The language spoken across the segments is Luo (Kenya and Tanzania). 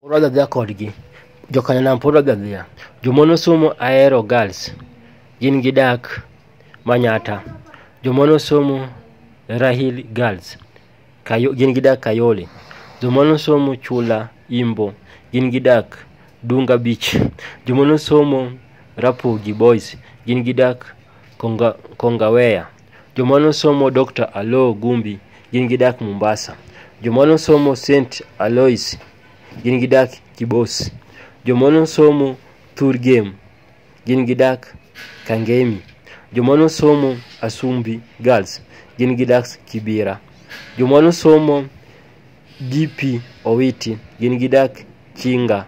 Pod wadhi adhiya kodgi. Jokanyanam pod wadhi adhiya. Jomon osomo Ahero Girls gin gidak Manyatta. Jomon osomo Rahil Girls Kayo, gin gidak Kayole. Jomon osomo Chula Imbo gin gidak Dunga Beach. Jomon osomo Rapogi Boys gin gidak Konga, Kongaweya. Joma nosomo Dr. Aloo Gumbi gin gidak Mombasa. Joma nosomo St. Alois gin gidak Kibos. Joma nosomo Thurgem gin gidak Kangemi. Joma nosomo Asumbi Girls gin gidak Kibira. Joma nosomo DP Owiti gin gidak Chinga.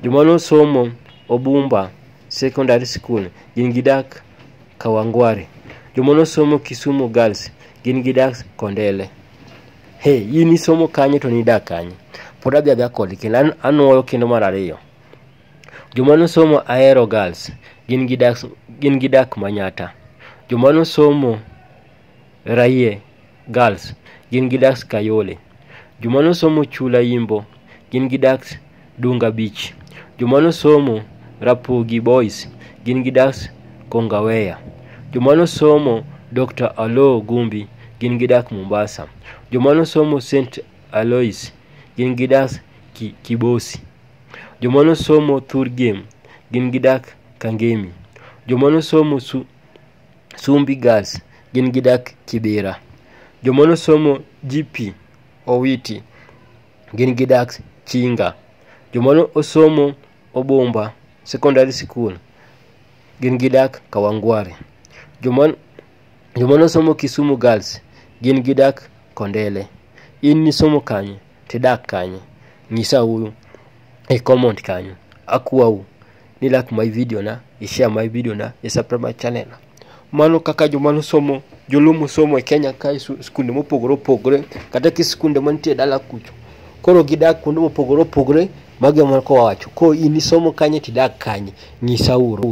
Joma nosomo Obumba Secondary School gin gidak Kawangware. Joma nosomo Kisumu Girls gin gidak Kondele. He, in isomo kanye to nidak kanye? Pod adhi adha kodi kendo an- anwoyo kendo mar ariyo. Joma nosomo Ahero Girls gin gidak gin gidak Manyata. Joma nosomo Raye, Girls, gin gi Dax Kayole. Joma nosomo Chula Yimbo, gin gi Dax Dunga Beach. Joma nosomo Rapogi Boys, gin gi Dax Kongaweya. Joma nosomo Dr. Alo Gumbi, gin gi Dax Mombasa. Joma nosomo St. Alois, gin gi Dax Ki- Kibosi. Joma nosomo Thur Game, gin gi Dax Kangemi. Joma nosomo Su- Sumbi Girls gin gidak Kibira. Joma nosomo GP Owiti gin gidak Chinga. Joma nosomo Obumba Secondary School gin gidak Kawangware. Joma joma nosomo Kisumu Girls gin gidak Kondele. In nisomo kanye tidak kanye? Nyisa uru. e comment kanyo akwau ni like my video na i share my video na i subscribe my channel mano kaka joma nosomo joluo mosomo e kenya ka e su- skunde mopogore opogore kata ki skunde mantie dala kucho koro gidak kuonde mopogore opogore mago ema koro wawacho koro in isomo kanye tidak kanye nyisauru